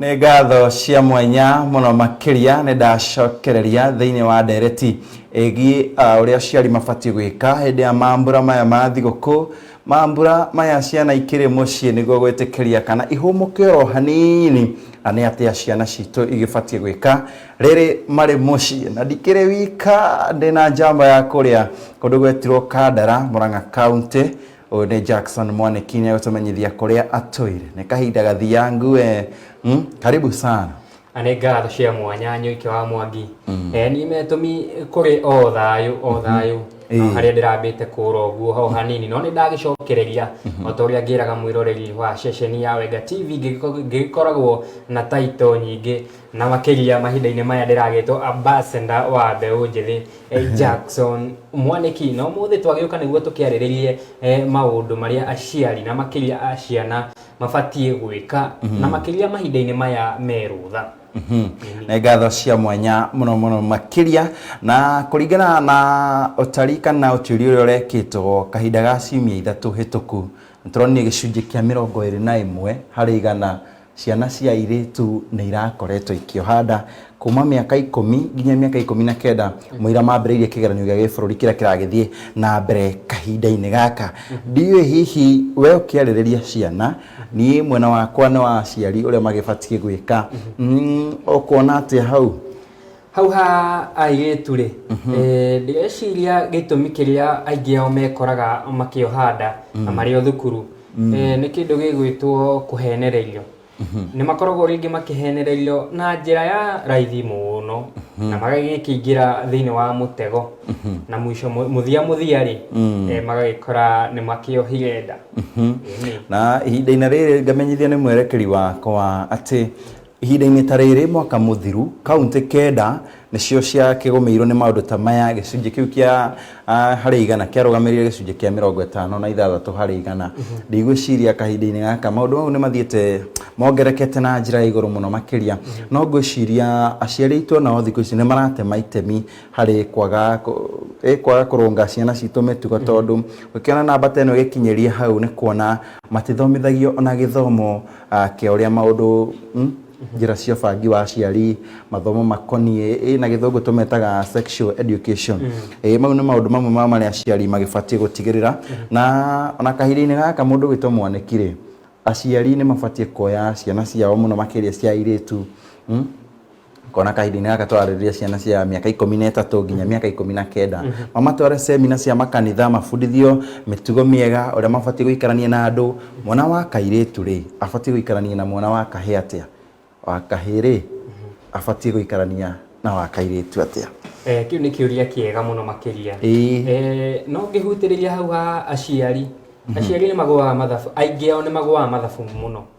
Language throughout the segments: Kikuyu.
Nĩ ngatho cia mwanya mũno makĩria nĩ ndacokereria thĩinĩ wa ndereti ĩgiĩ ah, ũrĩa aciari mabatiĩ gwĩka hĩndĩ ya mambura maya ma thigũkũ mambura maya ciana ikĩrĩ mũciĩ nĩguo gwĩtĩkĩria kana ihũmũke oro hanini na nĩ atĩa ciana citũ igĩbatiĩ gwĩka rĩrĩ marĩ mũciĩ na ndikĩrĩ wika ndĩna njamba ya kũrĩa kũndũ gwetirwo kandara mũrang'a kaunti Ũyũ nĩ Jackson Mwaniki nĩ egũtũmenyithia kũrĩa atũire. Nĩ kahinda gathiangu eh. Mm, karibu sana. na nĩ ngatho cia mwanya nyũike wa mwangi Eh, niĩ metũmi kũrĩ o thayũ o thayũ Ĩĩ. No harĩa ndĩrambĩte kũra ũguo ho hanini no nĩ ndagĩcokereria o ta ũrĩa ngĩraga mwĩroreri wa ceceni ya wenga tv ngĩgĩko- ngĩgĩkoragwo na taito nyingĩ Na makĩria mahinda-inĩ maya ndĩragĩtwo ambassador wa mbeũ njĩthĩ Jackson Mwanĩki. Na ũmũthĩ twagĩũka nĩguo tũkĩarĩrĩrie maũndũ marĩa aciari na makĩria a ciana mabatiĩ gwĩka na makĩria mahinda-inĩ maya me rũtha. Nĩ ngatho cia mwanya mũno mũno makĩria. Na kũringana na ũtari kana ũtuĩria ũrĩa ũrekĩtwo kahinda ga ciumia ithatũ hĩtũku, nĩ tũronire gĩcunjĩ kĩa mĩrongo ĩrĩ na ĩmwe harĩ igana Ciana cia airĩtu nĩ irakoretwo ikĩoha nda kuma mĩaka ikũmi nginya mĩaka ikũmi na kenda mũira mambĩrĩirie kĩgeranio gĩa gĩbũrũri kĩrĩa kĩragĩthiĩ na mbere kahinda-inĩ gaka ndiũĩ hihi we ũkĩarĩrĩria ciana niĩ mwena wakwa nĩ wa aciari ũrĩa magĩbatiĩ gwĩka mm, ũkuona atĩa hau? Hau ha airĩtu-rĩ, eh, ndĩreciria gĩtũmi kĩrĩa aingĩ ao mekoraga makĩoha nda na marĩ o thukuru eh, nĩ kĩndũ gĩgwĩtwo kũhenererio nĩ makoragwo rĩngĩ makĩhenererio na njĩra ya raithi mũno na magagĩkĩingĩra thĩinĩ wa mũtego na mũico mũ- mũthia mũthia-rĩ eh, magagĩkora nĩ makĩohire nda Ĩĩ. na ihinda-inĩ rĩrĩ ngamenyithio nĩ mwerekeri wakwa atĩ Ihinda-inĩ ta rĩrĩ mwaka mũthiru, kauntĩ kenda nĩcio ciakĩgũmĩirwo nĩ maũndũ ta maya, gĩcunjĩ kĩu kĩa harĩ igana kĩarũgamĩrĩire gĩcunjĩ kĩa mĩrongo ĩtano na ithathatũ harĩ igana. Ndigwĩciria kahinda-inĩ gaka maũndũ mau nĩmathiĩte mongerekete na njĩra ya igũrũ mũno makĩria, no ngwĩciria aciari aitũ o nao thikũ ici nĩmaratema itemi harĩ kwaga kwaga kũrũnga ciana citũ mĩtugo tondũ ũngĩkĩona namba ta ĩno ĩgĩkinyĩria hau nĩ kuona matithomithagio ona gĩthomo a kĩa ũrĩa maũndũ mm, njĩra cia ũbangi wa aciari mathomo makoniĩ ĩ, na gĩthũngũ tũmetaga sexual education ĩ, mau nĩ maũndũ mamwe ma marĩa aciari magĩbatiĩ gũtigĩrĩra na ona kahinda-inĩ gaka mũndũ wĩtwo mwanĩki rĩ aciari nĩ mabatiĩ kuoya ciana ciao mũno makĩria cia airĩtu mm, kona kahinda-inĩ gaka twararĩria ciana cia mĩaka ikũmi na ĩtatũ nginya mĩaka ikũmi na kenda mm -hmm. mamatware semina cia makanitha mabundithio mĩtugo mĩega ũrĩa mabatiĩ gũikarania na andũ mwana wa kairĩtu rĩ abatiĩ gũikarania na mwana wa kahĩ atĩa wa kahĩ rĩ mhm. abatiĩ gũikarania na wa kairĩtu atĩa eh, kĩu nĩ kĩũria kĩega mũno makĩria eh, no ngĩhutĩrĩria hau ha aciari mhm. aciari nĩ magũaga mathabu aingĩ ao nĩ magũaga mathabu mũno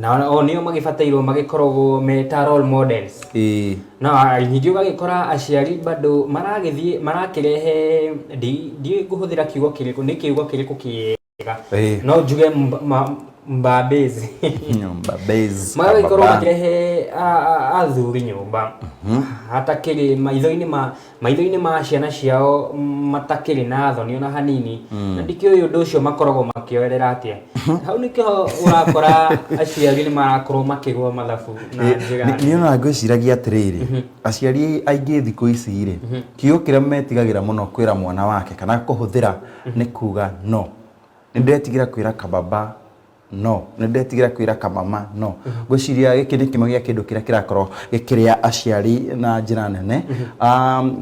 na o nĩo magĩbatairwo magĩkoragwo me ta role models ĩĩ no a- ningĩ ũgagĩkora aciari bado maragĩthiĩ marakĩrehe ndi- ndiũĩ ngũhũthĩra kiugo kĩrĩkũ nĩ kiugo kĩrĩkũ kĩega Ĩĩ. no njuge mb- ma- mbambĩzi nyũmba base magagĩkorwo baba. makĩrehe a- a- athuri nyũmba hatakĩrĩ maitho-inĩ ma maitho-inĩ ma ciana ciao matakĩrĩ na thoni ona hanini mm. na ndikĩũĩ ũndũ ũcio makoragwo makĩoerera atĩa mhm. hau nĩkĩo ũrakora aciari nĩ marakorwo makĩgwa mathabu na eh, njĩra nĩ ona ngwĩciragia atĩrĩrĩ mhm. aciari aingĩ thikũ ici rĩ mhm. kiugo kĩrĩa metigagĩra mũno kwĩra mwana wake kana kũhũthĩra nĩ kuga no nĩ ndĩretigĩra kwĩra kababa No. Nĩ ndetigĩra kwĩra kamama no. Ngwĩciria gĩkĩ nĩ kĩmwe gĩa kĩndũ kĩrĩa kĩrakorwo gĩkĩrĩa aciari na njĩra nene.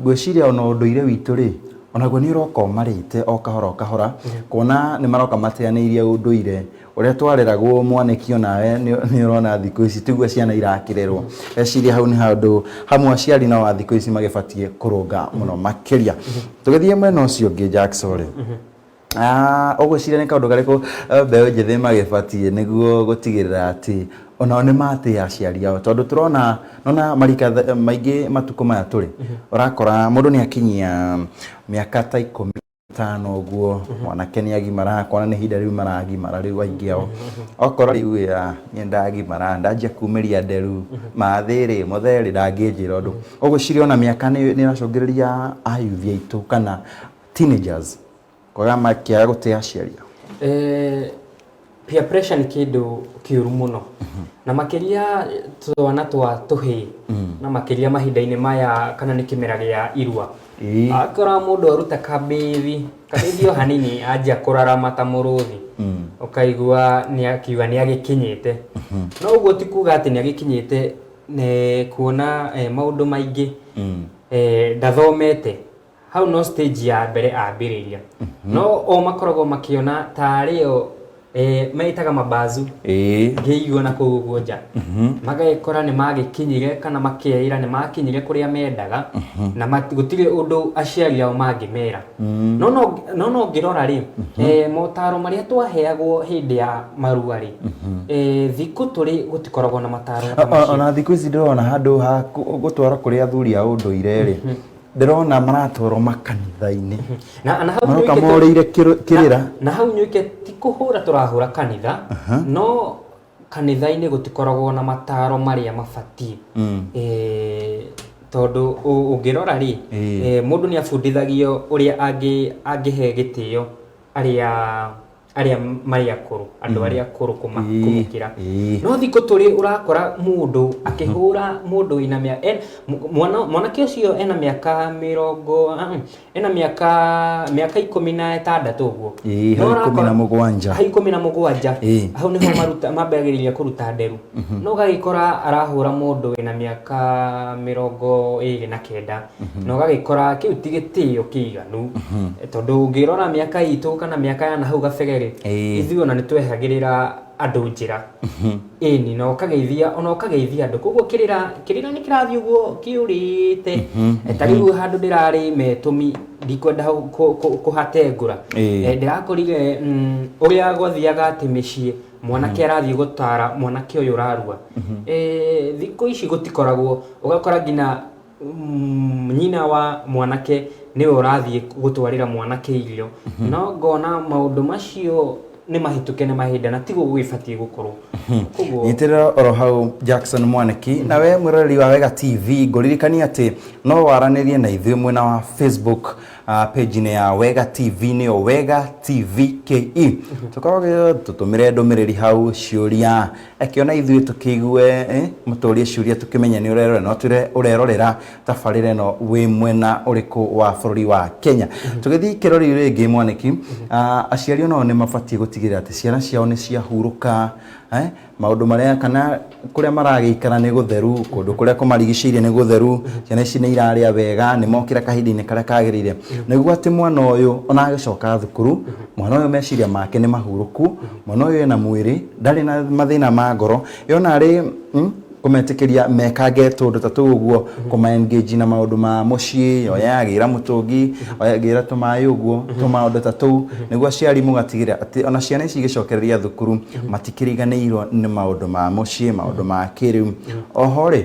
Ngwĩciria ona ũndũire witũ rĩ, onaguo nĩ ũroka ũmarĩte o kahora o kahora, kuona nĩ maroka mateanĩirie ũndũire. Ũrĩa twareragwo mwanĩki onawe nĩ ũrona thikũ ici tiguo ciana irakĩrerwo. Ngwĩciria hau nĩ handũ hamwe aciari nao a thikũ ici magĩbatiĩ kũrũnga mũno makĩria. Tũgĩthiĩ mwena ũcio ũngĩ Jackson rĩ, Ah, ũgwĩciria nĩ kaũndũ karĩkũ eh, mbeũ njĩthĩ magĩbatiĩ nĩguo gũtigĩrĩra atĩ onao nĩ matĩa aciari ao tondũ tũrona nona marika th- maingĩ matukũ maya tũrĩ ũrakora mũndũ nĩ akinyia mĩaka ta ikũmi tano ũguo mwanake nĩ agimara akona nĩ ihinda rĩu maragimara rĩu aingĩ ao okora rĩu ĩ, ah, niĩ ndagimara ndanjia kumĩria nderu mathĩrĩ mũtherĩ ndangĩnjĩra ũndũ ũgwĩciria ona mĩaka nĩ nĩ ĩracũngĩrĩria ayuthi aitũ kana teenagers kwaga makĩaga gũtĩa aciari ao Eh, peer pressure nĩ kĩndũ kĩũru mũno na makĩria twana twa tũhĩĩ na makĩria mahinda-inĩ maya kana nĩ kĩmera gĩa irua Ĩĩ. akora mũndũ aruta kabithi kabithi o hanini anjia kũrarama ta mũrũthi ũkaigua nĩ akiuga nĩ agĩkinyĩte no ũguo ti kuga atĩ nĩ agĩkinyĩte nĩ kuona eh, maũndũ maingĩ eh, ndathomete Hau no stage ya mbere ambĩrĩria. No o makoragwo makĩona taarĩ o eh, meĩtaga mabazu Ĩĩ. ngĩigua na kũu ũguo nja magekora nĩ magĩkinyire kana makeĩra nĩ makinyire kũrĩa mendaga na mat- gũtirĩ ũndũ aciari ao mangĩmera no no- no no ngĩrora rĩ eh, motaro marĩa twaheagwo hĩndĩ ya marua rĩ eh, thikũ tũrĩ gũtikoragwo na mataro ta O- o- macio ona thikũ ici ndĩrona handũ ha kũ- gũtwarwo kũrĩ athuri a ũndũire rĩ ndĩrona maratwarwo makanitha-inĩ na na hau maroka nĩũikĩte- morĩire kĩrũ- kĩrĩra na, na hau nyuike ti kũhũra tũrahũra kanitha no kanitha-inĩ gũtikoragwo na mataro marĩa mabatiĩ Mm. Eh, tondũ ũ- ũngĩrora rĩ Ĩĩ. eh, mũndũ nĩ abundithagio ũrĩa angĩ- angĩhe gĩtĩo arĩa arĩa marĩ akũrũ andũ arĩa akũrũ kũma- Ĩĩ, kũmũkĩra ĩĩ. no thikũ tũrĩ ũrakora mũndũ akĩhũra mũndũ wĩna mĩa- en- mu- mwana- mwanake ũcio ena mĩaka mĩrongo ah, mm, ena mĩaka mĩaka ikũmi na ĩtandatũ ũguo Ĩĩ, No hau ikũmi na ũrakora- mũgwanja. hau ikũmi na mũgwanja Ĩĩ. hau nĩho maruta- mambagĩrĩria kũruta nderu no ũgagĩkora arahũra mũndũ wĩna mĩaka mĩrongo ĩrĩ na kenda na ũgagĩkora kĩu ti gĩtĩo kĩiganu tondũ ũngĩrora mĩaka itũ kana mĩaka ya nahau gabere-rĩ Ĩĩ. ithuĩ ona nĩ twehagĩrĩra andũ njĩra ĩni na ũkageithia ona ũkageithia andũ koguo kĩrĩra kĩrĩra nĩ kĩrathiĩ ũguo kĩũrĩte Eh, ta rĩu handũ ndĩrarĩ metũmi ndikwenda hau kũ- kũ- kũhatengũra Ĩĩ. Eh, ndĩrakorire mm, ũrĩa gwathiaga atĩ mĩciĩ mwanake arathiĩ gũtara mwanake ũyũ ũrarua Eh, thikũ ici gũtikoragwo ũgakora nginya mm, nyina wa mwanake nĩwe ũrathiĩ gũtwarĩra mwanake irio mhm. no ngona maũndũ macio nĩ mahĩtũke nĩ mahinda na tiguo gũgĩbatiĩ gũkorwo mhm. nyitĩrĩra oro hau jackson mwaniki na we mwĩroreri wa wega tv ngũririkania atĩ no waranĩrie na ithuĩ mwena wa facebook uh, page-inĩ ya wega tv nĩyo wega tv ke mhm. tũkorwo tũtũmĩre ndũmĩrĩri hau ciũria Reke ona ithuĩ tũkĩigue eh, mũtũrie ciũria tũkĩmenye nĩ ũrerorera no twĩre ũrerorera tabarĩra ĩno wĩ mwena ũrĩkũ wa bũrũri wa Kenya tũgĩthiĩ kĩrori rĩngĩ mwanĩki ah, aciari onao nĩ mabatiĩ gũtigĩrĩra atĩ ciana ciao nĩ ciahurũka eh, maũndũ marĩa kana kũrĩa maragĩikara nĩ gũtheru kũndũ kũrĩa kũmarigicĩirie nĩ gũtheru ciana ici nĩ irarĩa wega nĩ mokĩra kahinda-inĩ karĩa kagĩrĩire nĩguo atĩ mwana ũyũ ona agĩcoka thukuru mwana ũyũ meciria make nĩ mahurũku Mwana ũyũ ena mwĩrĩ, ndarĩ na mathĩna ma ngoro. Yona arĩ mm, kũmetĩkĩria mekange tũũndũ ta tũu ũguo, kũma engage na maũndũ ma mũciĩ, oya agĩra mũtũngi, oya agĩra tũmaĩ ũguo, tũmaũndũ ta tũu, nĩguo aciari mũgatigĩrĩra atĩ ona ciana ici igĩcokereria thukuru, matikĩriganĩirwo nĩ maũndũ ma mũciĩ, maũndũ ma kĩrĩu. Oho-rĩ,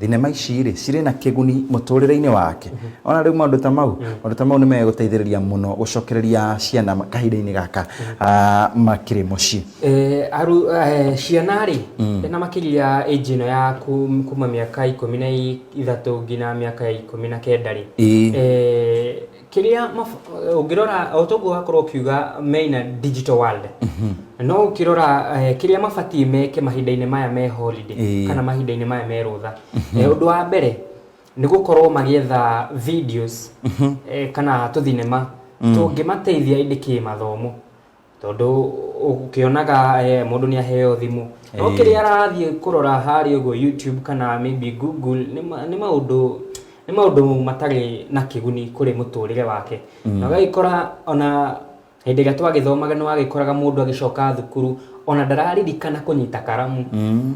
Thinema ici rĩ cirĩ na kĩguni mũtũrĩre-inĩ wake. Ona rĩu maũndũ ta mau, maũndũ ta mau nĩ megũteithĩrĩria mũno gũcokereria ciana kahinda-inĩ gaka makĩrĩ mũciĩ. Ciana rĩ, na makĩria ya age ĩno ya kuma mĩaka ikũmi na ithatũ nginya mĩaka ya ikũmi na kenda rĩ, kĩrĩa ũngĩrora o toguo wakorwo ũkiuga me in a digital world mhm. no ũkĩrora eh, kĩrĩa mabatiĩ meke mahinda-inĩ maya me holiday kana mahinda-inĩ maya me rũtha mhm. eh, ũndũ wa mbere nĩ gũkorwo magĩetha videos mhm. eh, kana tũthinema mm. tũngĩmateithia ĩndĩ kĩmathomo tondũ ũkĩonaga eh, mũndũ nĩ aheo thimũ no Ĩĩ. kĩrĩa arathiĩ kũrora harĩa ũguo youtube kana maybe google nĩ ma- nĩ maũndũ nĩ maũndũ matarĩ na kĩguni kũrĩ mũtũrĩre wake na ũgagĩkora ona hĩndĩ ĩrĩa twagĩthomaga nĩ wagĩkoraga mũndũ agĩcoka thukuru ona ndararirikana kũnyita karamu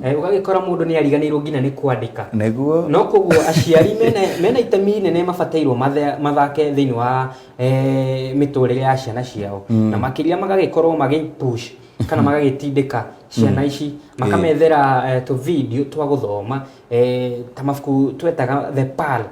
Eh, ũgagĩkora mũndũ nĩ ariganĩirwo nginya nĩ kwandĩka nĩguo no koguo aciari mena- mena itemi inene mabatairwo mathe- mathake thĩinĩ wa eh, mĩtũrĩre ya ciana ciao na makĩria magagĩkorwo magĩpush kana magagĩtindĩka ciana ici makamethera eh, tũ video twa gũthoma eh, ta mabuku twetaga the pal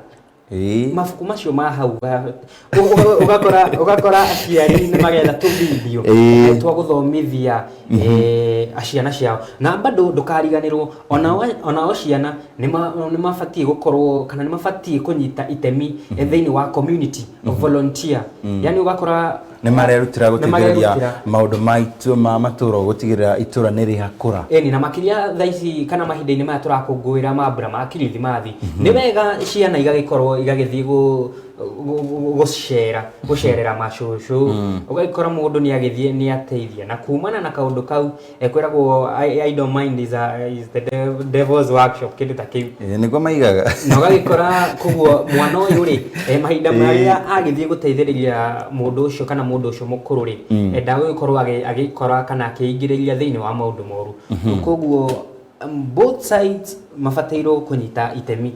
Ĩĩ. mabuku macio ma hau ga- ũ- ũ- ũgakora ũgakora aciari nĩ magetha tũ video Ĩĩ. eh, twa gũthomithia eh, a ciana ciao na bado ndũkariganĩrwo ona wa- ona o ciana nĩma- nĩmabatiĩ gũkorwo kana nĩmabatiĩ kũnyita itemi thĩinĩ wa community volunteer yani ũgakora nĩ marerutĩra gũteithĩrĩria Nĩmarerutĩra. maũndũ ma itũ- ma matũũra gũtigĩrĩra itũũra nĩ rĩakũra Eni, na makĩria thaa ici kana mahinda-inĩ maya tũrakũngũĩra mambura ma kirithimathi nĩ wega ciana igagĩkorwo igagĩthiĩ gũ gũcera gũcerera macũcũ mm. ũgagĩkora mũndũ nĩ agĩthiĩ nĩ ateithia na kumana na kaũndũ kau ekwĩragwo idle mind is, a, is the devil's workshop kĩndũ ta kĩu eh, nĩguo maigaga na ũgagĩkora koguo mwana ũyũ rĩ eh, mahinda marĩa eh. agĩthiĩ gũteithĩrĩria mũndũ ũcio kana mũndũ ũcio mũkũrũ rĩ mm. ndagũgĩkorwo agĩkora kana akĩingĩrĩria thĩinĩ wa maũndũ moru mm-hmm. koguo Um, both sides mabatairwo kũnyita itemi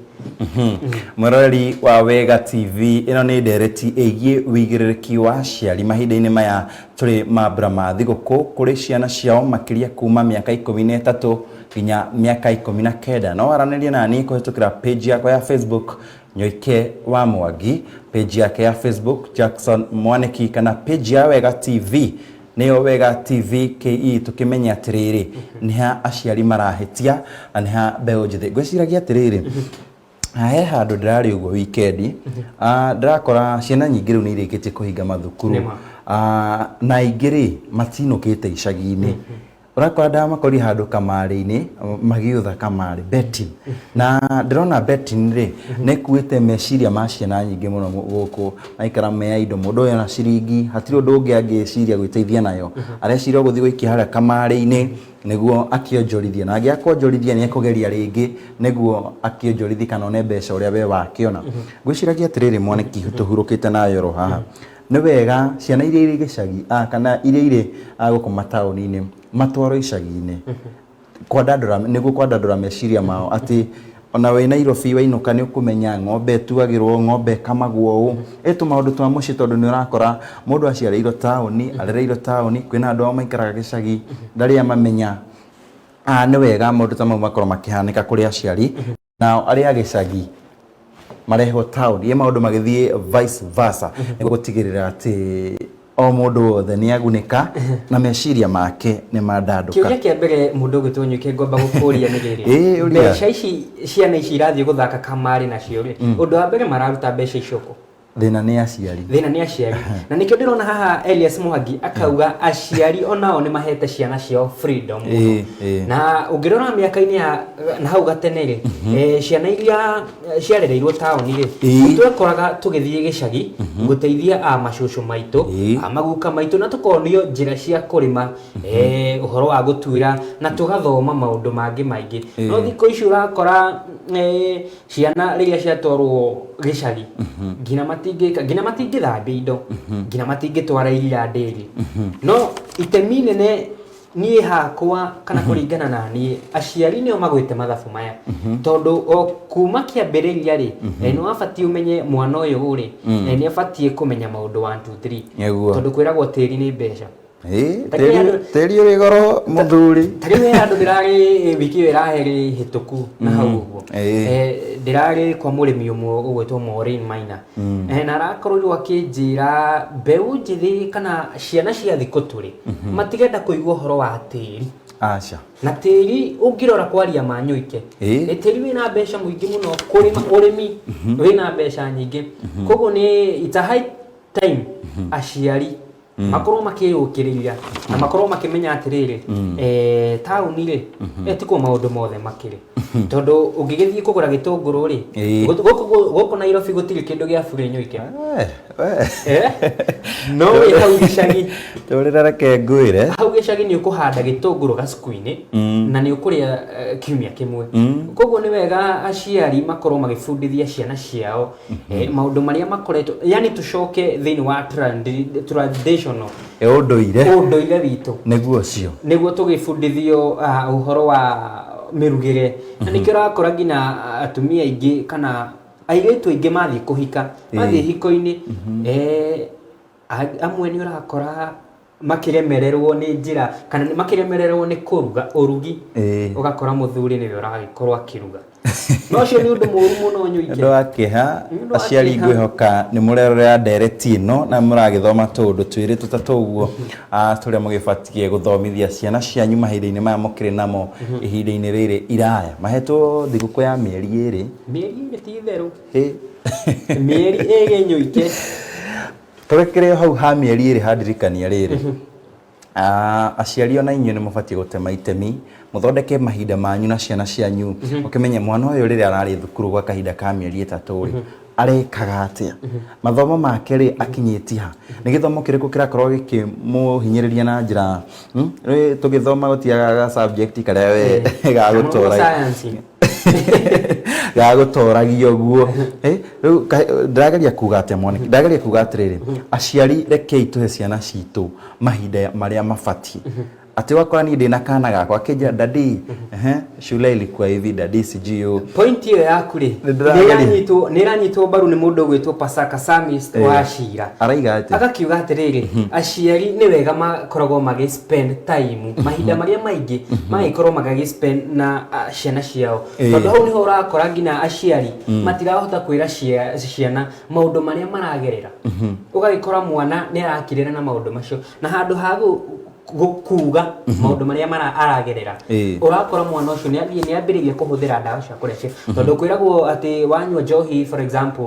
mwĩroreri wa wega tv ĩno nĩ ndereti ĩgiĩ wĩigĩrĩrĩki wa aciari mahinda-inĩ maya tũrĩ mambura ma thigũkũ kũrĩ ciana ciao makĩria kuma mĩaka ikũmi na ĩtatũ nginya mĩaka ikũmi na kenda no waranĩrie naniĩ kũhĩtũkĩra page yakwa ya facebook nyoike wa mwangi page yake ya facebook jackson mwanĩki kana page ya wega tv Nĩyo Wega TV KE tũkĩmenye atĩrĩrĩ, nĩ ha aciari marahĩtia na nĩ ha mbeũ njĩthĩ. Ngwĩciragia atĩrĩrĩ, he handũ ndĩrarĩ ũguo wikendi, ah, ndĩrakora ciana nyingĩ rĩu nĩ irĩkĩtie kũhinga mathukuru. Nĩma. Ah, na aingĩ-rĩ, matinũkĩte icagi-inĩ. Ũrakora ndamakori handũ kamarĩ-inĩ magĩũtha kamarĩ betting na ndĩrona betting rĩ nĩ ĩkuĩte meciria ma ciana nyingĩ mũno gũkũ maikara me idle mũndũ oya ciringi hatirĩ ũndũ ũngĩ angĩciria gwĩteithia nayo areciria o gũthiĩ gũikia harĩa kamarĩ-inĩ nĩguo akĩonjorithie na angĩaga kuonjorithia nĩ ekũgeria rĩngĩ nĩguo akĩonjorithie kana one mbeca ũrĩa we wakĩona. Ngwĩciragia atĩrĩrĩ mwaniki tũhurũkĩte nawe oro haha Nĩ wega ciana iria irĩ gĩcagi a kana iria irĩ a gũkũ mataũni-inĩ matwarwo icagi-inĩ kwandandũra nĩguo kwandandũra meciria mao atĩ ona wĩ Nairobi wainũka nĩ ũkũmenya ng'ombe ĩtuagĩrwo, ng'ombe ĩkamagwo ũũ. Ĩ tũmaũndũ twa mũciĩ tondũ nĩ ũrakora mũndũ aciarĩirwo taũni, arereirwo taũni, kwĩna andũ ao maikaraga gĩcagi ndarĩ amamenya. Nĩ wega maũndũ ta mau makorwo makĩhanĩka kũrĩ aciari. nao arĩa a gĩcagi marehwo taũni ĩ maũndũ magĩthiĩ vice versa nĩ gũtigĩrĩra atĩ o mũndũ wothe nĩ agunĩka na meciria make nĩ mandandũka kĩũria kĩa mbere mũndũ ũgwĩtwo nyũkĩ ngomba gũkũria nĩ Ĩ, rĩrĩ ũria. mbeca ici ciana ici irathiĩ gũthaka kamarĩ nacio rĩ ũndũ wa mbere mararuta mbeca icio kũ thĩna nĩ aciari thĩna nĩ aciari na nĩkĩo ndĩrona haha Elias Muhangi akauga aciari onao nĩ mahete ciana ciao freedom Ĩĩ, ĩĩ. na ũngĩrora mĩaka-inĩ ya na hau gatene-rĩ eh, ciana iria eh, ciarereirwo taũni-rĩ Ĩĩ. twekoraga tũgĩthiĩ gĩcagi gũteithia a macũcũ maitũ Ĩĩ. a maguka maitũ na tũkonio njĩra cia kũrĩma eh, ũhoro wa gũtuĩra na tũgathoma maũndũ mangĩ maingĩ no thikũ ici ũrakora eh, ciana rĩrĩa ciatwarwo gĩcagi nginya matingĩka nginya matingĩthambia indo nginya matingĩtwara iria ndĩri no itemi inene niĩ hakwa kana kũringana na niĩ aciari nĩo magwĩte mathabu maya tondũ o kuma kĩambĩrĩria rĩ eh, nĩ wabatiĩ ũmenye mwana ũyũ rĩ eh, nĩ abatiĩ kũmenya maũndũ 1 2 3 Nĩguo. tondũ kwĩragwo tĩri nĩ mbeca Ĩĩ, Ta kĩrĩa tĩri- andũ- tĩri ũrĩ goro mũthuri ta rĩu he handå ndä rarä wiki ä yo ĩraherä hä tå ku na hau å guo Ĩĩ. ndä rarä kwa må rä mi å mwe å gwä two maina Eh, na arakorirwo akä njä ra mbeå njä thä kana ciana cia thikå tå rä matigenda kå igua å horo wa tä ri aca na tĩri ũngĩrora kwaria ma nyũike Ĩĩ. nĩ tĩri wĩna mbeca mũingĩ mũno kũrĩma ũrĩmi wĩna mbeca nyingĩ koguo nĩ it's a high time aciari mm. makorwo makĩyũkĩrĩria na mm. makorwo makĩmenya atĩrĩrĩ mm. eh, taũni rĩ mm-hmm. eh, tikuo maũndũ mothe makĩrĩ mm-hmm. tondũ ũngĩgĩthiĩ kũgũra gĩtũngũrũ rĩ gũkũ nairobi gũtirĩ kĩndũ gĩa burĩ nyũike eh, no wĩ hau gĩcagi tũrĩra reke ngwĩre hau gĩcagi nĩ ũkũhanda gĩtũngũrũ gacuku-inĩ na nĩ ũkũrĩa kiumia kĩmwe koguo nĩ wega aciari makorwo magĩbundithia ciana ciao Eh, maũndũ marĩa makoretwo yani tũcoke thĩinĩ wa tradi- traditional ĩ ũndũire ũndũire witũ nĩguo ũcio nĩguo tũgĩbundithio ah, ũhoro wa mĩrugĩre na nĩkĩo ũrakora nginya ah, atumia aingĩ kana airĩtu aingĩ mathiĩ kũhika mathiĩ Ĩĩ. hiko-inĩ eh, a- amwe nĩ ũrakora makĩremererwo nĩ njĩra kana nĩ makĩremererwo nĩ kũruga ũrugi Ĩĩ. ũgakora mũthuri nĩwe ũragĩkorwo akĩruga no ũcio nĩ ũndũ mũru mũno nĩ ũndũ nyũike wa kĩha Nĩ ũndũ wa aciari kĩeha. ngwĩhoka nĩ mũrerorera ndereti ĩno na mũragĩthoma tũũndũ twĩrĩ tũtatũ ũguo ah, tũrĩa mũgĩbatiĩ gũthomithia ciana cianyu mahinda-inĩ maya mũkĩrĩ namo ihinda-inĩ rĩrĩ iraya mahetwo thigũkũ ya mĩeri ĩrĩ mĩeri ĩrĩ ti itherũ Ĩ. mĩeri ĩrĩ nyũike Tũrekererio hau ha mĩeri ĩrĩ ha ndirikania rĩrĩ. Ah, aciari ona inyuĩ nĩ mũbatiĩ gũtema itemi mũthondeke mahinda manyu na ciana cianyu ũkĩmenye mwana ũyũ rĩrĩa ararĩ thukuru gwa kahinda ka mĩeri ĩtatũ rĩ arekaga atĩa mathomo make rĩ akinyĩtie ha nĩ gĩthomo kĩrĩkũ kĩrakorwo gĩkĩmũhinyĩrĩria na njĩra hmm? Rĩ, tũgĩthoma gũtiagaga subject karĩa we gagũtũra Science. gagũtoragia ũguo Eh, rĩu kahe- ndĩrageria kuga atĩa mwanake ndĩrageria kuga atĩrĩrĩ aciari rekei tũhe ciana citũ mahinda ya- marĩa mabatiĩ atĩ wakora niĩ ndĩna kana gakwa akĩnjĩra dadi ehe, shule ilikuwa hivi dadi sijui ũũ." pointi ĩyo yaku rĩ Nĩndĩrageria. nĩranyitwo nĩranyitwo mbaru nĩ mũndũ ũgwĩtwo pasaka samis Eh. wacira araiga atĩ agakiuga atĩrĩrĩ aciari nĩ wega makoragwo magĩ spend time mahinda marĩa maingĩ magĩkorwo magagĩ spend na ah, ciana ciao Eh. tondũ hau nĩho ũrakora nginya aciari matirahota kwĩra cia- ciana maũndũ marĩa maragerera ũgagĩkora mwana nĩ arakirĩra na maũndũ macio na handũ ha gũ- gũ- kuuga maũndũ marĩa mara- aragerera Eh. ũrakora mwana ũcio nĩ athiĩ nĩ ambĩrĩirie kũhũthĩra ndawa cia kũrebia tondũ kwĩragwo atĩ wanyua njohi for example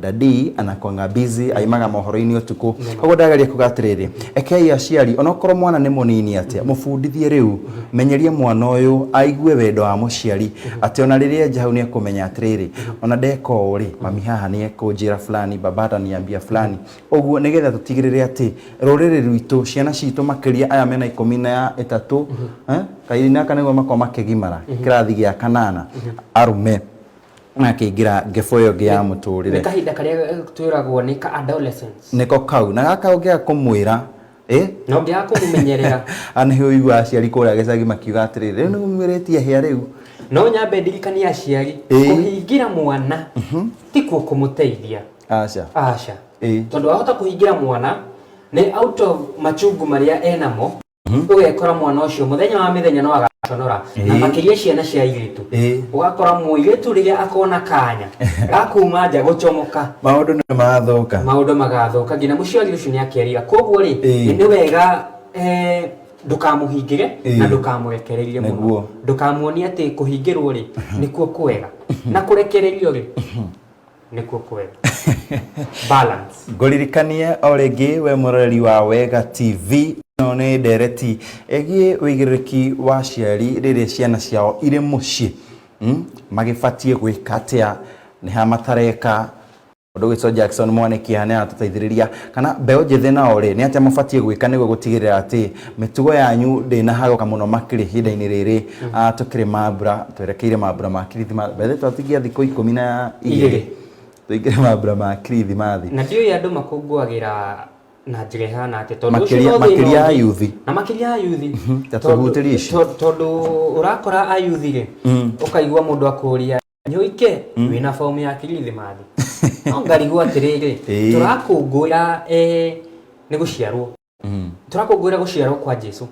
Daddy anakwanga busy aimaga mohoro-inĩ ũtukũ koguo ndageria kuga atĩrĩrĩ ekei aciari onokorwo mwana nĩ mũnini atĩa mũbundithie rĩu menyeria mwana ũyũ aigue wendo wa mũciari atĩ ona rĩrĩa enja hau nĩ ekũmenya atĩrĩrĩ ona ndeka ũũ rĩ mami haha nĩ ekũnjĩra fulani baba ataniambia fulani ũguo nĩgetha tũtigĩrĩre atĩ rũrĩrĩ rwitũ ciana citũ makĩria aya mena ikũmi na ĩtatũ eh, kahinda-inĩ gaka nĩguo makorwo makĩgimara kĩrathi gĩa kanana arũme akĩingĩra ngebũ ĩyo ĩngĩ ya nĩ mũtũrĩre kahinda karĩa twĩragwo nĩ ka adolescence nĩko kau na gaka ũngĩaga kũmwĩra ĩ na ũngĩaga kũmũmenyerera ana nĩ ũiguaga aciari kũrĩa gĩcagi makiuga atĩrĩrĩ rĩu nĩ mũmĩrĩtie hĩa rĩu no nyambe ndirikanie aciari Ĩĩ. kũhingĩra mwana tikuo kũmũteithia aca aca Ĩĩ. tondũ wahota kũhingĩra mwana nĩ out of machungu marĩa enamo Mhm. ũgekora mwana ũcio mũthenya wa mĩthenya no agaconora na Ĩĩ. makĩria ciana cia airĩtu Ĩĩ. ũgakora mũirĩtu rĩrĩa akona kanya gakuma nja gũcomoka maũndũ nĩ mathũka maũndũ magathũka nginya mũciari ũcio nĩ akerira koguo rĩ Ĩĩ. nĩ wega eh, ndũkamũhingĩre Ĩĩ. na ndũkamũrekererie Nĩguo. mũno ndũkamuonie atĩ kũhingĩrwo rĩ nĩkuo kwega na kũrekererio rĩ nĩkuo kwega balance ngũririkanie o rĩngĩ we mũroreri wa wega tv ĩno nĩ ndereti ĩgiĩ wĩigĩrĩrĩki wa aciari rĩrĩa ciana ciao irĩ mũciĩ mm? magĩbatiĩ gwĩka atĩa nĩha matareka ũndũ ũgĩtwo jackson mwanĩkĩha nĩ aratũteithĩrĩria kana mbeũ njĩthĩ nao-rĩ, nĩ atĩa mũbatiĩ gwĩka nĩguo gũtigĩrĩra atĩ mĩtugo yanyu ndĩnahagũka mũno makĩria ihinda-inĩ rĩrĩ ah, tũkĩrĩ mambura, twerekeire mambura ma kirithimathi by the way twatingia thikũ ikũmi na igĩrĩ Igĩrĩ. tũingĩre mambura ma kirithimathi na ndiũĩ andũ makũngũagĩra na njĩra ĩhana atĩ tondũ ũcio Makĩria- no thĩna makĩria ũngĩ. ayuthi. na makĩria ayuthi ta tũhutĩrie ici. tondũ ũrakora ayuthi-rĩ ũkaigua mũndũ akũria nĩ ũike mm. wĩna fomu ya kirithimathi no ngarigwo atĩrĩrĩ tũrakũngũĩra eh, nĩ gũciarwo mm. tũrakũngũĩra gũciarwo kwa jesu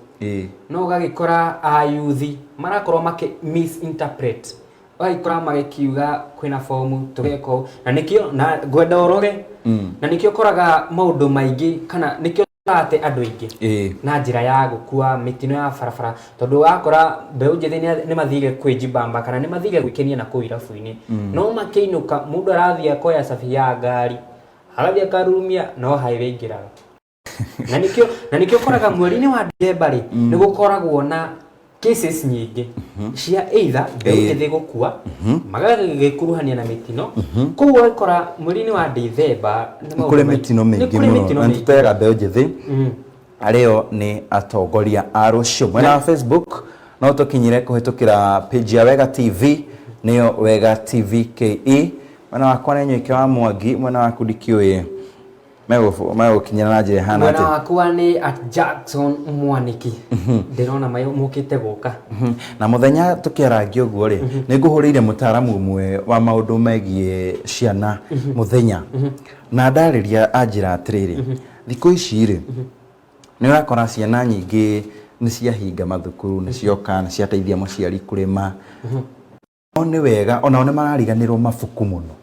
no ũgagĩkora ayuthi marakorwo makĩ misinterpret ũgagĩkora magĩkiuga kwĩna fomu tũgeka ũũ na nĩkĩo na ngwenda ũroge mm. na nĩkĩo ũkoraga maũndũ maingĩ kana nĩkĩo atĩ andũ aingĩ Ĩĩ. na njĩra ya gũkua mĩtino ya barabara tondũ wakora mbeũ njĩthĩ nĩ- nĩ mathire kwĩjibamba kana nĩ mathire gwĩkenia na kũu irabu-inĩ no makĩinũka mũndũ arathiĩ akoya cabi ya ngari agathiĩ akarurumia no highway aingĩraga na nĩkĩo na nĩkĩo ũkoraga mweri-inĩ wa ndithemba rĩ nĩ gũkoragwo na cases nyingĩ cia either mbeũ Eh. njĩthĩ gũkua magagĩkuruhania na mĩtino koguo ũgakora mweri-inĩ wa ndithemba nĩ nĩ maũndũ kũrĩ maingĩ. mĩtino Nĩ mĩingĩ kũrĩ mũno mĩtino na mĩingĩ. nĩtũteaga mbeũ njĩthĩ arĩo nĩ atongoria a rũciũ mwena wa facebook no tũkinyire kũhĩtũkĩra page ya wega tv nĩyo wega tv ke mwena wakwa nĩ nyoike wa mwangi mwena waku ndikĩũĩ Megũ- megũkinyĩra na njĩra ĩhana mwena atĩ wakwa nĩ at jackson mwaniki ndĩrona mayo mũkĩte gũka Mhm. na mũthenya tũkĩarangia ũguo rĩ nĩ ngũhũrĩire mũtaaramu ũmwe wa maũndũ megiĩ ciana mũthenya na ndarĩria anjĩra atĩrĩrĩ thikũ ici rĩ nĩ ũrakora ciana nyingĩ nĩ ciahinga mathukuru nĩ cioka nĩ ciateithia mũciari kũrĩma No nĩ wega onao nĩ marariganĩrwo mabuku mũno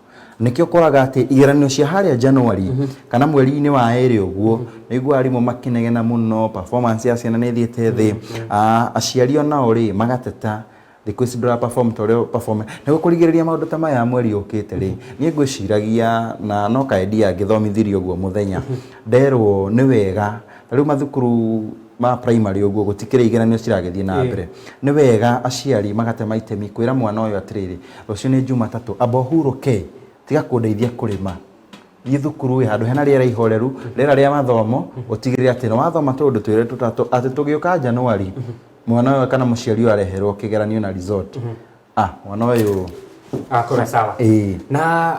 nĩkĩo ũkoraga atĩ igeranio cia harĩa January kana mweri-inĩ wa erĩ ũguo nĩ ũiguaga arimũ makĩnegena mũno performance ya ciana nĩ ĩthiĩte thĩ Ah, aciari onao rĩ magateta thikũ ici ndũra perform ta ũrĩa perform nĩguo kũrigĩrĩria maũndũ ta maya mweri ũkĩte rĩ niĩ ngwĩciragia na no kaĩ ndia ngĩthomithirio ũguo mũthenya nderwo nĩ wega Rĩu mathukuru ma primary ũguo gũtikĩrĩ igeranio ciragĩthiĩ na mbere, nĩ wega aciari magatema itemi kwĩra mwana ũyũ atĩrĩrĩ, rũciũ nĩ Jumatatũ, amba ũhurũke, tiga kũndeithia kũrĩma, thiĩ thukuru ĩ, handũ hena rĩera ihoreru, rĩera rĩa mathomo, ũtigĩrĩre atĩ nĩ wathoma tũũndũ twĩrĩ tũtatũ, atĩ tũgĩũka January, mwana ũyũ kana mũciari ũyũ areherwo kĩgeranio na result. ah mwana ũyũ akora sawa ĩĩ na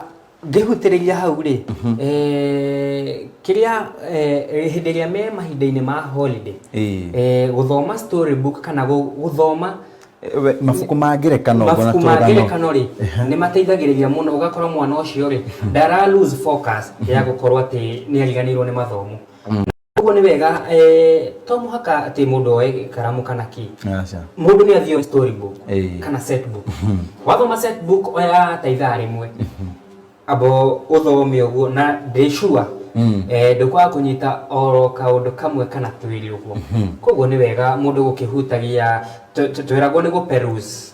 ngĩhutĩrĩria hau rĩ eh, kĩrĩa eh, hĩndĩ ĩrĩa me mahinda-inĩ ma holiday ĩĩ eh, gũthoma story book kana gũ- gũthoma Eh, we- mabuku ma ngerekano ũguo na mabuku ma tũrũgano. ngerekano rĩ nĩ mateithagĩrĩria mũno ũgakora mwana ũcio rĩ ndara lose focus ya gũkorwo atĩ nĩ ariganĩirwo nĩ mathomo Ũguo nĩ wega eh, to mũhaka atĩ mũndũ oe karamu kana kĩ Aca. mũndũ nĩ athiĩ oe story book Ĩĩ. kana set book wathoma set book oya ta ithaa rĩmwe abo ũthome ũguo na ndĩ sure Mm. eh, ndũkwaga kũnyita oro kaũndũ kamwe kana twĩrĩ ũguo koguo nĩ wega mũndũ gũkĩhutagia tw- tw- tweragwo nĩ gũperuse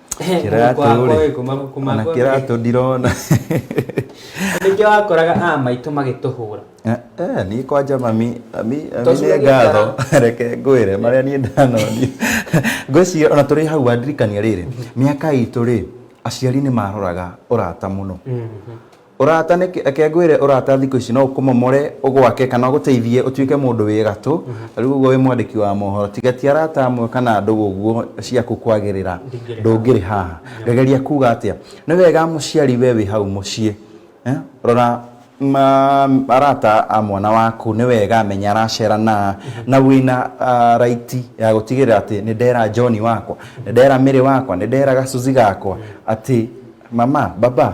Kĩratũ rĩ, ona kĩratũ ndirona ningĩ wakoraga a maitũ magĩtũhũra Eh, eh, niĩ kwanja mami mami mami Tocuragia nĩ ngatho reke ngwĩre marĩa niĩ ndanoni ngwĩciria ona tũrĩ hau wandirikania rĩrĩ mĩaka itũ rĩ aciari nĩ maroraga ũrata mũno Ũrata nĩ, reke ngwĩre ũrata thikũ ici no ũkũmomore, ũgwake kana ũgũteithie ũtuĩke mũndũ wĩ gatũ. Ta rĩu ũguo wĩ mwandĩki wa mohoro, tiga ti arata amwe kana ndũgũ ũguo ciaku kwagĩrĩra, ndũngĩrĩ haha. Ngageria kuuga atĩa? Nĩ wega mũciari we wĩ hau mũciĩ, rora arata a mwana waku, nĩ wega menya aracera na a, na wĩna right ya gũtigĩrĩra atĩ nĩ ndera John wakwa, nĩ ndera Mary wakwa, nĩ ndera gacuzi gakwa atĩ mama, baba,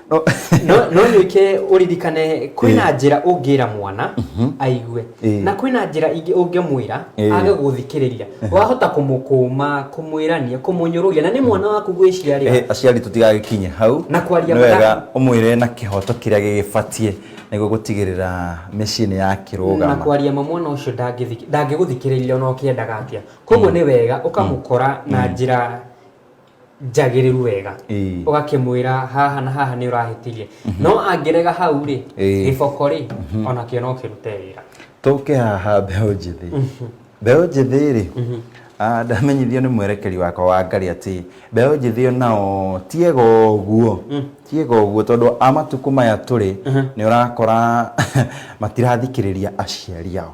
No- no no nyuike uririkane kwina njira ungira mwana aigue Eh. na kwina njira ingi ungemwira Eh. age guthikiriria wahota kumukuma kumwirania kumunyururia na ni mwana waku gwiciaria Eh, aciari tũtigagĩkinye hau Na kwaria Nĩ wega mathaa. ũmwĩre na kĩhoto kĩrĩa gĩgĩbatiĩ nĩguo gũtigĩrĩra mĩciĩ nĩ na yakĩrũgama kwaria ma mwana ucio ndangĩthiki- ndangĩgũthikĩrĩria ona ũkĩendaga atia koguo nĩ wega ũkamũkora na njĩra njagĩrĩru wega Ĩĩ. ũgakĩmwĩra haha na haha nĩ ũrahĩtirie no angĩrega hau rĩ Ĩĩ. gĩboko rĩ onakĩo no kĩrute wĩra tũke haha mbeũ njĩthĩ mbeũ njĩthĩ rĩ ah, ndamenyithio nĩ mwerekeri wakwa wa ngari atĩ mbeũ njĩthĩ o nao tiega ũguo tiega ũguo tondũ a matukũ maya tũrĩ nĩ ũrakora matirathikĩrĩria aciari ao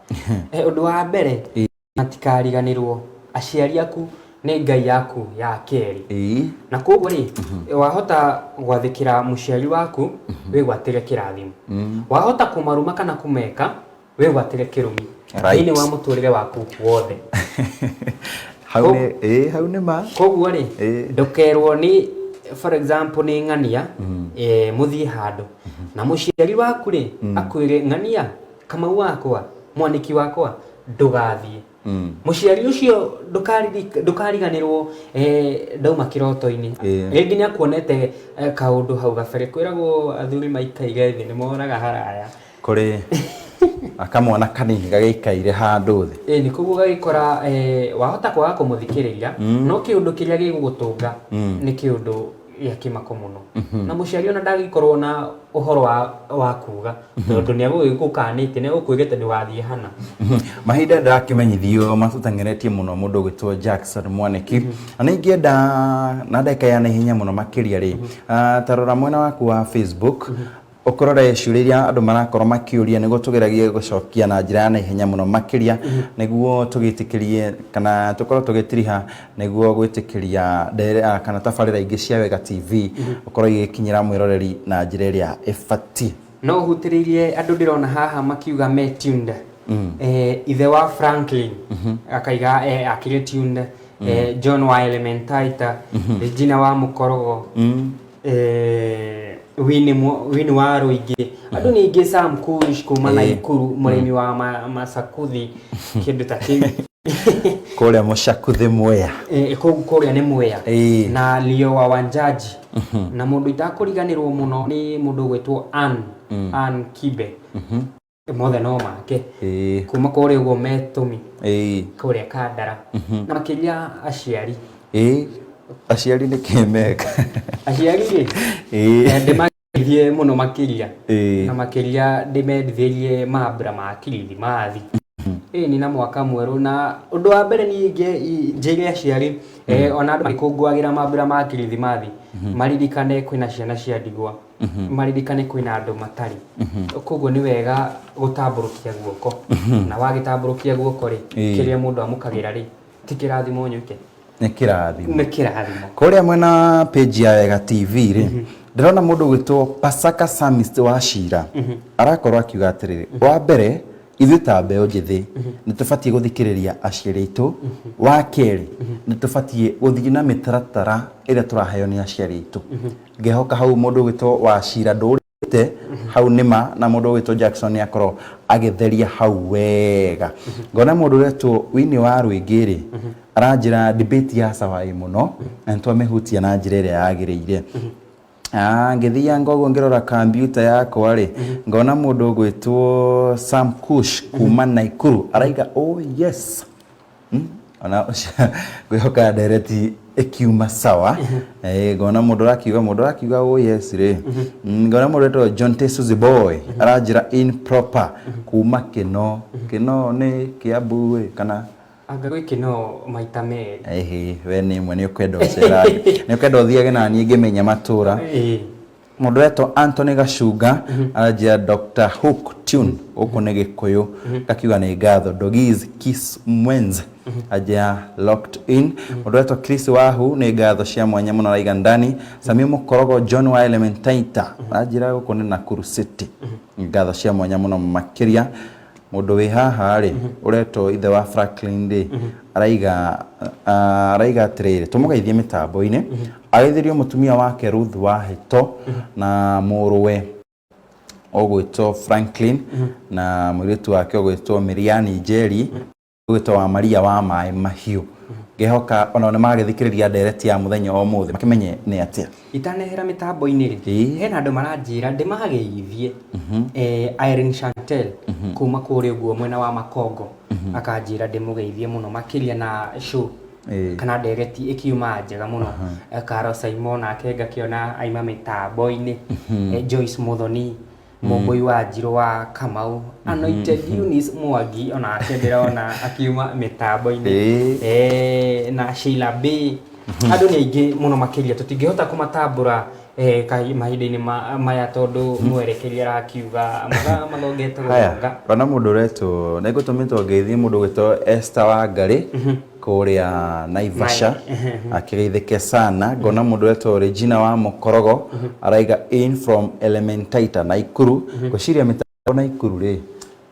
Eh, ũndũ wa mbere Ĩĩ. matikariganĩrwo aciari aku nĩ ngai yaku ya kerĩ Ĩĩ. na koguo rĩ wahota gwathĩkĩra mũciari waku wĩgwatĩre kĩrathimo wahota kũmaruma kana kũmeka wĩgwatĩre kĩrumi Right. thĩinĩ wa mũtũrĩre waku wothe hau Ko- nĩ ĩĩ hau nĩ ma koguo rĩ Ĩĩ. ndũkerwo nĩ for example nĩ ng'ania eh, mũthiĩ handũ na mũciari waku rĩ akwĩre ng'ania kamau wakwa mwaniki wakwa ndũgathiĩ mũciari ũcio ndũkariri- ndũkariganĩrwo eh, ndauma kĩroto-inĩ Ĩĩ. rĩngĩ nĩ akuonete eh, kaũndũ hau gabere kwĩragwo athuri maikaire thĩ nĩ moraga haraya kũrĩ akamwana kanini gagĩikaire handũ thĩ ĩĩ nĩ koguo gagĩkora eh, wahota kwaga kũmũthikĩrĩria no kĩũndũ kĩrĩa gĩgũgũtũnga nĩ kĩũndũ ya kimako muno na muciari ona ndagikorwo na uhoro wa wa kuga tondu ni agugikukanite ni agukwirite ndugathie hana mahinda ndĩrakimenyithio matũteng'eretie mũno mũndũ ũgĩtwo jackson mwaniki na nĩ ingĩenda na ndagĩka ya naihenya mũno makĩria rĩ ah, ta rora mwena waku wa facebook Ũkũrore ciũria iria andũ marakorwo makĩũria nĩguo tũgeragie gũcokia na njĩra ya naihenya mũno makĩria nĩguo tũgĩtĩkĩrie kana tũkorwo tũgĩtiriha nĩguo gwĩtĩkĩria nderera kana tabarĩra ingĩ cia Wega TV gũkorwo igĩkinyĩra mwĩroreri na njĩra ĩrĩa ĩbatiĩ. No ũhutĩrĩirie andũ ndĩrona haha makiuga me tuned. Eh, ithe wa Franklin akaiga eh, akĩrĩ tuned. Eh, John wa Elementaita, Regina wa Mũkorogo. eh, wini mu- wini wa rũingĩ andũ nĩ aingĩ sam kush kuma na Eh. ikuru mũrĩmi wa ma- macakuthi kĩndũ ta kĩu kũrĩa mũcakuthĩ mwea Eh, kũu kũrĩa nĩ mwea Eh. na lio wa wanjaji na mũndũ itakũriganĩrwo mũno nĩ mũndũ ũgwĩtwo an an kibe mothe no make ĩĩ kuma kũrĩa ũguo metũmi ĩĩ kũrĩa kandara na makĩria aciari ĩĩ aciari nĩ kĩmeka aciari rĩ ĩĩ ndĩmateithie mũno makĩria Ĩĩ. na makĩria ndĩmendithĩrie mambura ma kirithimathi ĩĩ nĩ na mwaka mwerũ na ũndũ wa mbere niĩ ingĩ- i- njĩre aciari eh, ona andũ makũngũagĩra mambura ma kirithimathi maririkane kwĩna ciana cia ndigwa mhm. maririkane kwĩna andũ matarĩ mhm. koguo nĩ wega gũtambũrũkia guoko mhm. na wagĩtambũrũkia guoko rĩ kĩrĩa mũndũ amũkagĩra rĩ ti kĩrathimo nyũke nĩ kĩrathimo nĩ kĩrathimo kũrĩa mwena page ya wega tv rĩ ndĩrona mũndũ gwĩtwo pasaka samist wa cira arakorwo akiuga atĩrĩrĩ wa mbere ithuĩ ta mbeũ njĩthĩ mhm. nĩ tũbatiĩ gũthikĩrĩria aciari aitũ mhm. wa kerĩ mhm. nĩ tũbatiĩ gũthiĩ na mĩtaratara ĩrĩa tũraheo nĩ aciari aitũ Ngehoka hau mũndũ ũgwĩtwo Wachira ndũrĩte hau nĩma na mũndũ ũgwĩtwo Jackson nĩ akorwo agĩtheria hau wega. Ngona mũndũ ũretwo Winnie wa Rwĩngĩ rĩ aranjĩra debate ya sawa ĩ mũno na nĩ twamĩhutia na njĩra ĩrĩa yagĩrĩire. Ah, ngĩthianga ũguo ngĩrora kambiuta yakwa rĩ ngona mũndũ ũgwĩtwo Sam Kush kuma Naikuru araiga oh yes. Hmm? ona kwĩhoka ndereti ĩkiuma sawa Eh, ngona mũndũ ũrakiuga mũndũ ũrakiuga oh yes rĩ Mm, ngona mũndũ etwo john tesuzi boy aranjĩra improper kuma kĩno kĩno nĩ kĩambu ĩ, kana anga gwĩ kĩno maita merĩ Ehe, we nĩ ĩmwe nĩ ũkwenda ũcerage nĩ ũkwenda ũthiage na niĩ ngĩmenya matũra Ĩĩ. Mũndũ wetwo Anthony Gacunga aranjia Dr. Hook Tune gũkũ nĩ Gĩkũyũ ngakiuga nĩ ngatho Dogiz Kiss Mwenz anjia Locked In mũndũ wetwo Chris Wahu nĩ ngatho cia mwanya mũno araiga ndani Samio Mũkorogo John wa Elementaita anjira gũkũ nĩ Nakuru City ngatho cia mwanya mũno makĩria Mũndũ wĩ haha rĩ, ũretwo ithe wa Franklin rĩ, araiga ah, araiga atĩrĩrĩ, tũmũgeithie mĩtambo-inĩ, ageithĩrio mũtumia wake Ruth Wahĩto na mũrũwe ũgwĩtwo Franklin na mũirĩtu wake ũgwĩtwo Miriani Njeri. wĩto wa maria wa maĩ mahiũ ngehoka onao nĩ magagĩthikĩrĩria ndereti ya mũthenya wa ũmũthĩ makĩmenye nĩ atĩa itanehera mĩtambo-inĩ rĩ Ĩĩ. hena andũ maranjĩra ndĩmageithie eh, Irene Chantel kuma kũrĩa ũguo mwena wa makongo akanjĩra ndĩmũgeithie mũno makĩria na show Ĩĩ. kana ndereti ĩkiuma njega mũno Eh, Karo Simon nake ngakĩona aima mĩtambo-inĩ Eh, Joyce Muthoni mũmbũi wa njirũ wa kamau anointed Eunice mwangi onake ndĩrona akiuma mĩtambo-inĩ Ĩĩ. Eh, na sheila b andũ nĩ aingĩ mũno makĩria tũtingĩhota kũmatambũra eh, kahi- mahinda-inĩ ma- maya tondũ mwerekeri arakiuga mathaa mathongete haya gũthonga ona mũndũ ũretwo nĩngũtũmĩtwo ngeithi mũndũ gwĩtwo Esther Wangarĩ kũrĩa Naivasha akĩgeithĩke sana ngona mũndũ wetwo Regina wa Mũkorogo araiga in from Elementaita Naikuru ngwĩciria mĩtambo Naikuru rĩ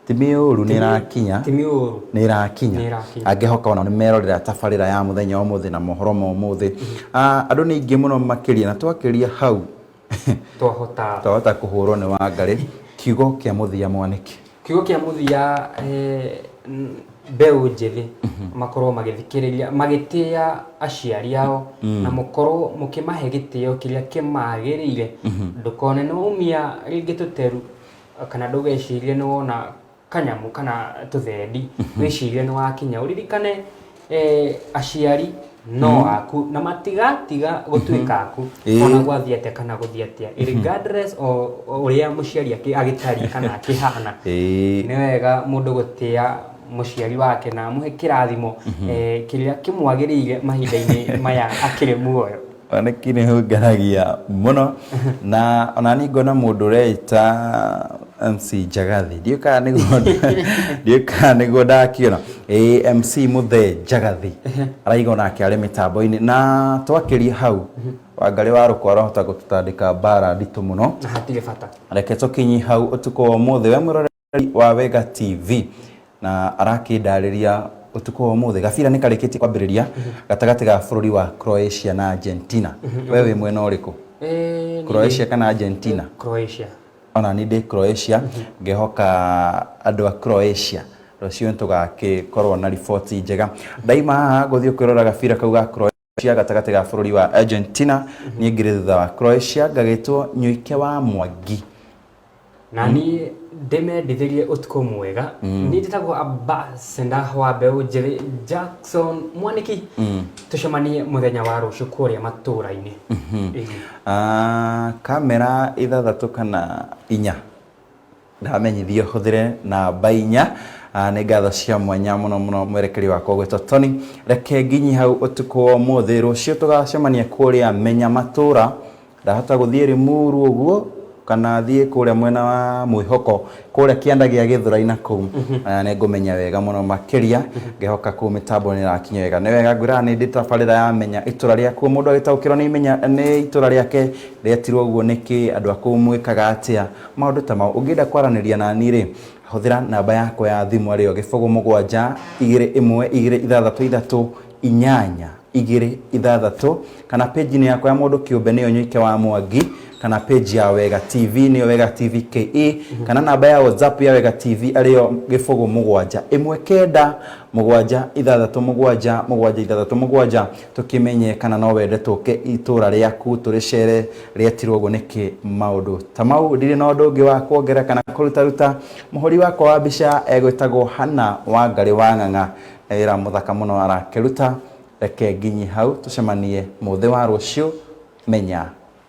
ti mĩũru nĩ ĩrakinya ti mĩũru nĩ ĩrakinya Nĩ ĩrakinya. angĩhoka ona nĩ merorera tabarĩra ya mũthenya wa ũmũthĩ na mohoro ma ũmũthĩ Ah, andũ nĩ aingĩ mũno makĩria na twakĩria hau twahota twahota kũhũrwo nĩ wangarĩ kiugo kĩa mũthia mwanĩke kiugo kĩa mũthia eh, n- mbeũ njĩthĩ makorwo magĩthikĩrĩria magĩtĩa aciari ao na mũkorwo mũkĩmahe gĩtĩo kĩrĩa kĩmagĩrĩire ndũkone nĩ waumia rĩngĩ tũteru kana ndũgecirie nĩ wona kanyamũ kana tũthendi wĩcirie nĩ wakinya ũririkane eh, aciari no mm. aku na matigatiga gũtuĩka mhm. aku eh. ona gwathiĩ atĩa kana gũthiĩ atĩa mhm. regardless o ũrĩa mũciari agĩtariĩ kana akĩhana eh. nĩ wega mũndũ gũtĩa muciari wake na amuhe kirathimo mhm. eh, kiria kimwagirire mahinda-ini maya akiri muoyo Oneki nĩ hũnganagia mũno na ona nĩ ngona mũndũ ũreita MC Njagathi ndiũĩ kana nĩguo ndiũĩ kana nĩguo ndakĩona ĩ MC Mũthee Njagathi araiga onake arĩ mĩtambo-inĩ na twakĩria hau Wangarĩ wa Rũkũ arahota gũtũtandĩka mbara nditũ mũno na hatirĩ bata reke tũkinyi hau ũtukũ wa ũmũthĩ we mwĩroreri wa Wega TV na arakĩndarĩria ũtukũ wa ũmũthĩ gabira nĩ karĩkĩtie kwambĩrĩria gatagatĩ ga bũrũri wa Croatia na Argentina we wĩ mwena ũrĩkũ Eh, Croatia kana Argentina Croatia. ona nĩ ndĩ Croatia ngehoka andũ a Croatia rũciũ nĩ tũgakĩkorwo na riboti njega ndaima haha ngũthiĩ kwĩrora gabira kau ga Croatia cia gatagatĩ ga bũrũri wa Argentina niĩ ngĩrĩ thutha wa Croatia ngagĩtwo nyoike wa mwangi na niĩ ndĩmendithĩrie ũtukũ mwega niĩ njĩtagwo ambasenda wa mbeũ njĩrĩ jackson mwanĩki tũcemanie mũthenya wa rũciũ kũrĩa matũũra-inĩ Ĩĩ. Ah, kamera ithathatũ kana inya Ndamenyithio hũthĩre namba inya. Nĩ ngatho cia mwanya mũno mũno mwerekeri wakwa ũgwĩtwo Tony. Reke nginyi hau ũtukũ wa ũmũthĩ. Rũciũ tũgacemania kũrĩa Menya Matũũra. Ndahota gũthiĩ Limuru ũguo kana thiĩ kũrĩa mwena wa Mwĩhoko kũrĩa kĩanda gĩa Gĩthũrai na kũu nĩ ngũmenya wega mũno makĩria. Ngehoka kũu mĩtambo nĩ ĩrakinya wega. Nĩ wega ngwĩraga nĩ ndĩ tabarĩra ya Menya Itũũra Rĩaku. O mũndũ agĩtaũkĩrwo nĩ Imenya nĩ itũũra rĩake. Rĩatirwo ũguo nĩkĩ? Andũ a kũu mwĩkaga atĩa maũndũ ta mau? Ũngĩenda kwaranĩria na niĩ-rĩ, hũthĩra namba yakwa ya thimũ arĩ yo gĩbũgũ mũgwanja, igĩrĩ ĩmwe, igĩrĩ ithathatũ ithatũ, inyanya, igĩrĩ ithathatũ, kana page-inĩ yakwa ya mũndũ kĩũmbe nĩyo Nyoike wa Mwangi, kana page ya Wega TV nĩyo Wega TV KE, kana namba ya WhatsApp ya Wega TV arĩ yo gĩbũgũ mũgwanja, ĩmwe kenda, mũgwanja ithathatũ mũgwanja, mũgwanja ithathatũ mũgwanja. Tũkĩmenye kana no wende tũke itũũra rĩaku tũrĩceere rĩetirwo ũguo nĩkĩ? Maũndũ ta mau. Ndirĩ na ũndũ ũngĩ wa kwongera kana kũrutaruta. Mũhũri wakwa wa mbica egwĩtagwo Hannah Wangarĩ wa Ng'ang'a. Nĩ wĩra mũthaka mũno arakĩruta. Reke nginyi hau. Tũcemanie mũthĩ wa rũciũ. Menya.